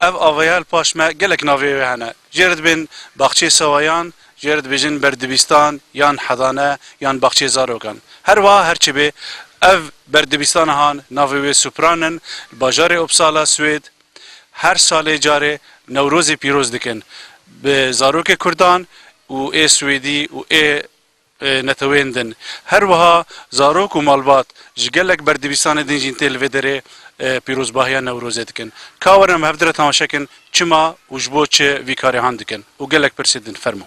Ev avayel paş me gelek navê wê hene. Jê re dibên Baxçeyê Sewayan, jê re dibêjin Berdibîstan yan Hedane yan Baxçeyê Zarokan. Her wiha her çi bê, ev berdibîstana han navê wê Supran in, li bajarê Uppsala, Swêd, her salê carê Newrozê pîroz dikin bi zarokê kurdan û ê swêdî û ê neteweyên din. Her wiha zarok û malbat ji gelek berdivîsanê din jîn tê li vê derê pîrozbahiya Newrozê dikin. Ka werin em hevdire temaşe kin çima û ji bo çi vî karê han dikin û gelek pirsê din. Fermo.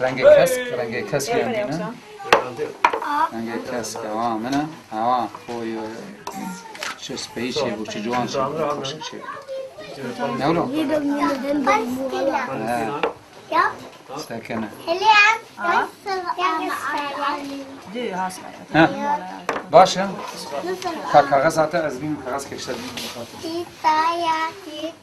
Rengê kesk, rengê kesk yan dîne. Rengê kesk ewa min e. Ewa oy oy. Çi speyî çê bû, çi ciwan çê bû, xweşik çê bû. Newlo. Sekene. Ha. Baş e? Ka kaxez hate ez bînim kaxez keşte bînim.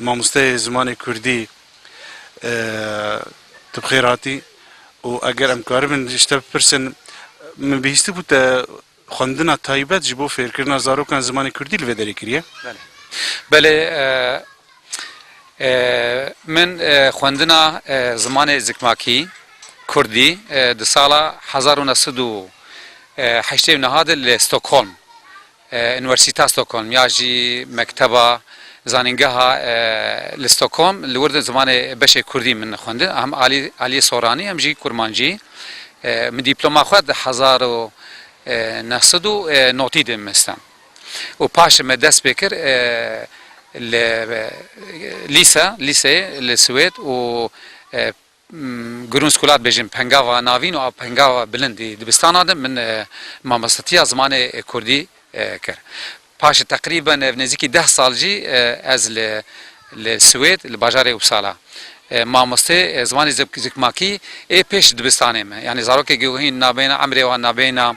Mamosteyê zimanê kurdî tu bi xêr hatî û eger em karibin ji te bipirsin min bihîstibû te xwendina taybet ji bo fêrkirina zarokan zimanê kurdî li vê derê kiriye? Belê. Belê min xwendina zimanê zikmakî, kurdî di sala hezar û neh sed û heştê û niha de li Stockholm Uniwersîta Stockholm ya jî mekteba zanîngeha li Stockholm li wir zimanê beşê kurdî min xwendin hem alî alîyê soranî hem jî kurmancî. Min dîploma xwe di hezar û neh sed û notî de mestan û paşê me dest pê kir li lîse lîseyê li Swêd û Gurûn Skulat bêjin pengava navîn û pengava bilind ê dibistana de min mamostetiya zimanê kurdî kir. Paşê teqrîben ev nêzîkî deh sal jî ez li li Swêd li bajarê Uppsala mamostê zimanê zikmakî ê pêş dibistanê me yanî zarokê giwhîn nabeyna emrê wan nabeyna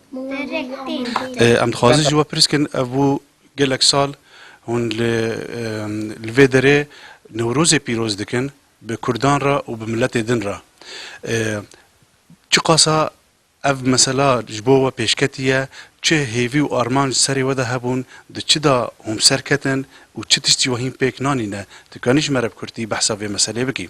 Em dixwazin ji we pirs bikin ev bû gelek sal hûn li li vê derê Newrozê pîroz dikin bi Kurdan re û bi miletê din re. Çiqasa ev mesela ji bo we pêşketî ye, çi hêvî û armanc di serê we de hebûn, di çi de hûn bi ser ketin û çi tişt jî we hîn pêk nanîne. Dikanî ji me re bi kurtî behsa vê meselê bikî?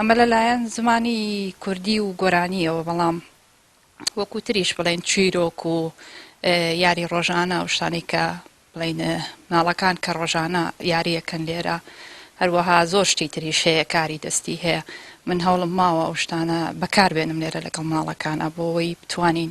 Eme le layen zimanî kurdî û goranî yo belam wekû tirî ji bilên çîrok û yarî rojana û ştanî ke bilên minalakan ke rojana yarî ekin lê re her weha zor ştî tirî şeye karî destî heye. Min hewlim mawa û ştane bekar bênim lê re legel minalakan a bo wê bituanîn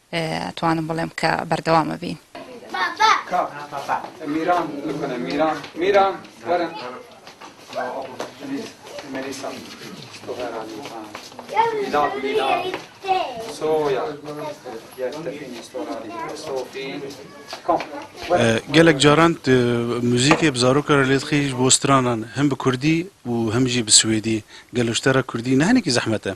Etwanim bilem ke berdewam bibîn. Gelek caran tu muzîkê bi zaroka re lê dixî ji bo stranan, him bi kurdî û him jî bi swêdî. Gelo ji te re kurdî ne hinekî zehmet e?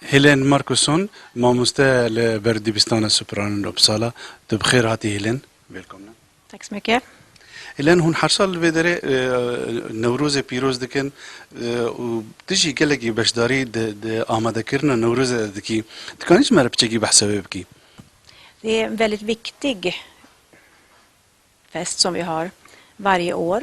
Helen Markuson, mamoste li ber Dibistana Superan'in Uppsala, tu bi xêr hatî Helen. Wêlkomna. Tack så mycket. Helen, hûn her sal li vê derê Newrozê pîroz dikin û tu jî gelekî beşdarî di amadekirina Newrozê de dikî. Dikanî ji me re piçekî behsa wê bikî? Det är en väldigt viktig fest som vi har varje år.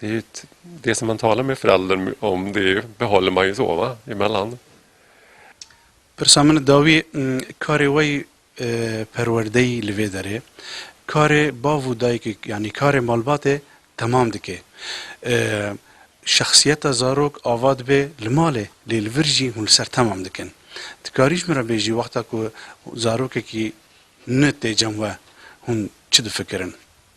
Det det som man talar med föräldern om det är behåll en majzova emellan. Pirsa min dawî karê we yî perwerdeyî li vê derê karê bav û dayikê yanî karê malbatê temam dike. Şexsiyeta zarok ava dibe li malê lê li vir jî hûn li ser temam dikin. Ti karî ji min re bêjî wexta ku zarokekî nûne tê cem we hûn çi difikirin?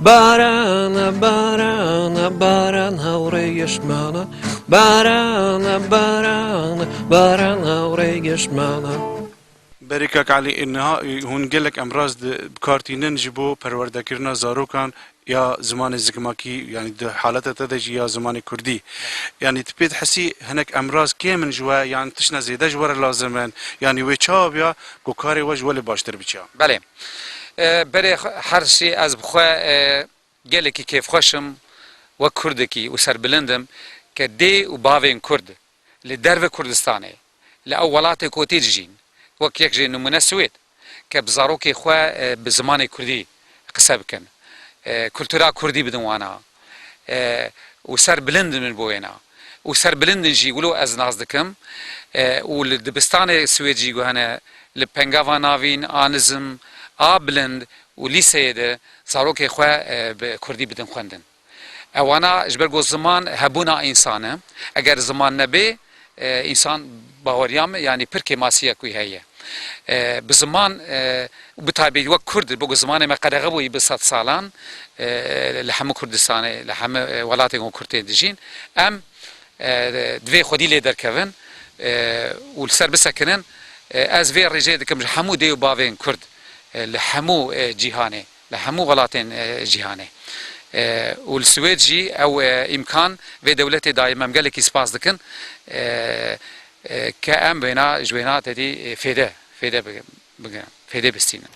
Barana barana baran hawrê gişmana Barana barana baran hawrê gişmana Berê kak Elî ê niha hûn gelek emraz di bikartînin ji bo perwerdekirina zarokan ya zimanê zikmakî yanî di haleta te de jî ya zimanê kurdî. Yanî tu pê dihesî hinek emraz kêm in ji we yan tişna zêde ji we re lazim in yanî wê çawa biya ku karê we ji we lê baştir biçiya? Belê. Berê hersî ez bi xwe gelekî kêfxweş im wek kurdekî û serbilind im ke dê û bavên kurd li derve Kurdistanê li ew welatê ku tê dijîn wek yek jê nimûne Swêd ke bi zarokê xwe bi zimanê kurdî qise bikin kultura kurdî bidin wana. û ser bilind in min bo wêna û ser bilind in jî wilo ez nas dikim û li dibistanê Swêd jî guhene li Pengava Navîn, Anizm, a bilind û lîseyê de zarokê xwe bi kurdî bidin xwendin. Ewana ji ber ku ziman hebûna însan e. Eger ziman nebê Însan baweriya me yanî pir kêmasî ye ku wî heye. Bi ziman û bi taybî wek kurd bo ku zimanê me qedexe bûyî bi sed salan li hemû Kurdistanê li hemû welatên ku kurd tê dijîn em divê xwedî lê derkevin û li ser bisekinin. Ez vê rêjê dikim ji hemû dê û bavên kurd li hemû cîhanê. Li hemû welatên cîhanê û li Swêd jî ew îmkan vê dewletê daye. Em gelekî spas dikin ke em wêna ji wêna tedî fêde fêde bigirin, fêdê bistînin.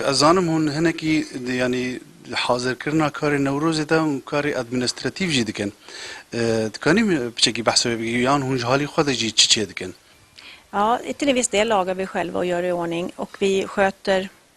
Ez zanim hûn hinekî yanî hazirkirina karê Newrozê de hûn karê administratîf jî dikin. Dikanî min piçekî behsa wê bikî yan hûn ji halî xwe de jî çi çêdikin? Ja, till en viss del lagar vi själva och gör i ordning och vi sköter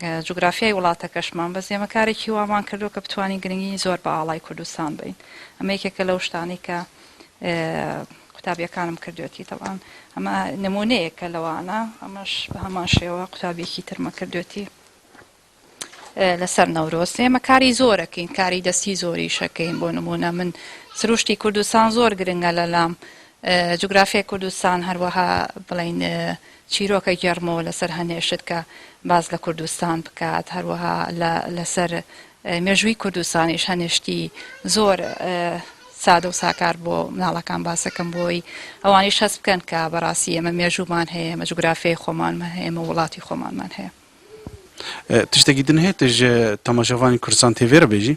Cografyayê wlateke ji man beziyê. Me karekî wa wan kirdo ke bitwanîn giringî zor bi alay Kurdistan bidin. Eme yekeke lew ştanî ke qutabiyekanim kirdiyotî. Teban eme nimûneyeke li wan e. Emeş bi heman şêwe qutabiyekî tir me kirdiyotî li ser Newrozê. Me karî zor ekîn, karî destî zor îş ekîn. Bo nimûne min sirûştî Kurdistan zor giring e li lam. Cografyayê Kurdistan her weha bileyne Çîroka germ û li ser henê şitke baz li Kurdistan biket, her wiha li ser mêjûyî Kurdistanîş henê ştî zor sade û sakar bo minalekan baz dikim bo wî ewanîş hest bikin ke bi rastî eme mêjûman heye, eme cugurafyayê xoman me heye, eme wilatî xoman man heye. Tiştekî din heye tu ji temaşevanên Kurdistan tê vê re bêjî?